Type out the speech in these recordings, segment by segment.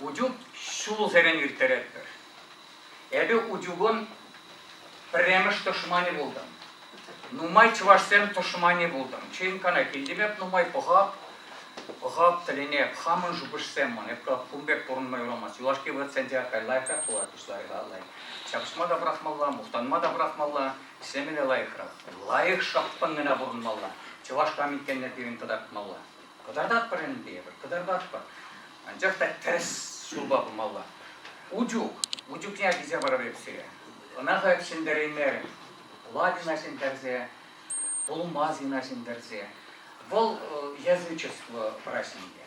Утюг ҫулсерен ирттеретпӗр. Эпӗ утюгӑн пӗрремӗш тӑшманӗ пултӑм. Нумай чӑвашсем тӑшманӗ пултӑм. Чейинкана килтӗм эп нумай пӑхап, пӑхап тӗлӗне хамӑн шухӑшсем ман. Эп кун пек пурӑнма юрамасть. Юлашки вӑхӑтсенче кайла-кай пулать пуҫларӗ лайӑх. Ҫапӑҫма та пӑрахмалла, мухтанма та пӑрахмалла, ӗҫлеме те лайӑхрах. Лайӑх шапкӑн гына пурӑнмалла. Чӑваш кам иккенне пирӗн кӑтартмалла. Кӑтартатпӑр ӗнтӗ эпӗр, кӑтартатпӑр. Анчах та тӗрӗс ҫулпа пымалла. Утюг, утюгне килсе парӑп эп сире. Ӑна халь ҫӗнтереймерӗм. Лавина ҫӗнтерсе, Пулмазина ҫӗнтерсе. Вӑл язычество праҫникӗ.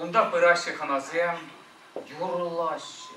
Унта пыраҫҫӗ хӑнасем, юрлаҫҫӗ,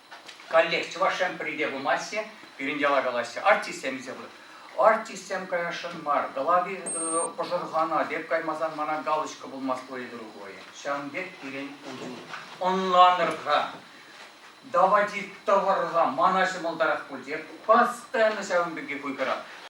Каллех Чӑваш Ен пӗрре пымасть-и, пирӗн яла калаҫҫӗ, артистсем илсе пырать. Артистсем каясшӑн мар. Глави э, пӑшӑрхана пек каймасан мана галочка пулмасть твоей другой. Ҫавӑн пек пирӗн уту. Ӑнланӑр-ха, давайте тӑвӑр-ха, мана ҫӑмӑлтарах пуль те, постоянно ҫавӑн пекки хуйхӑрат.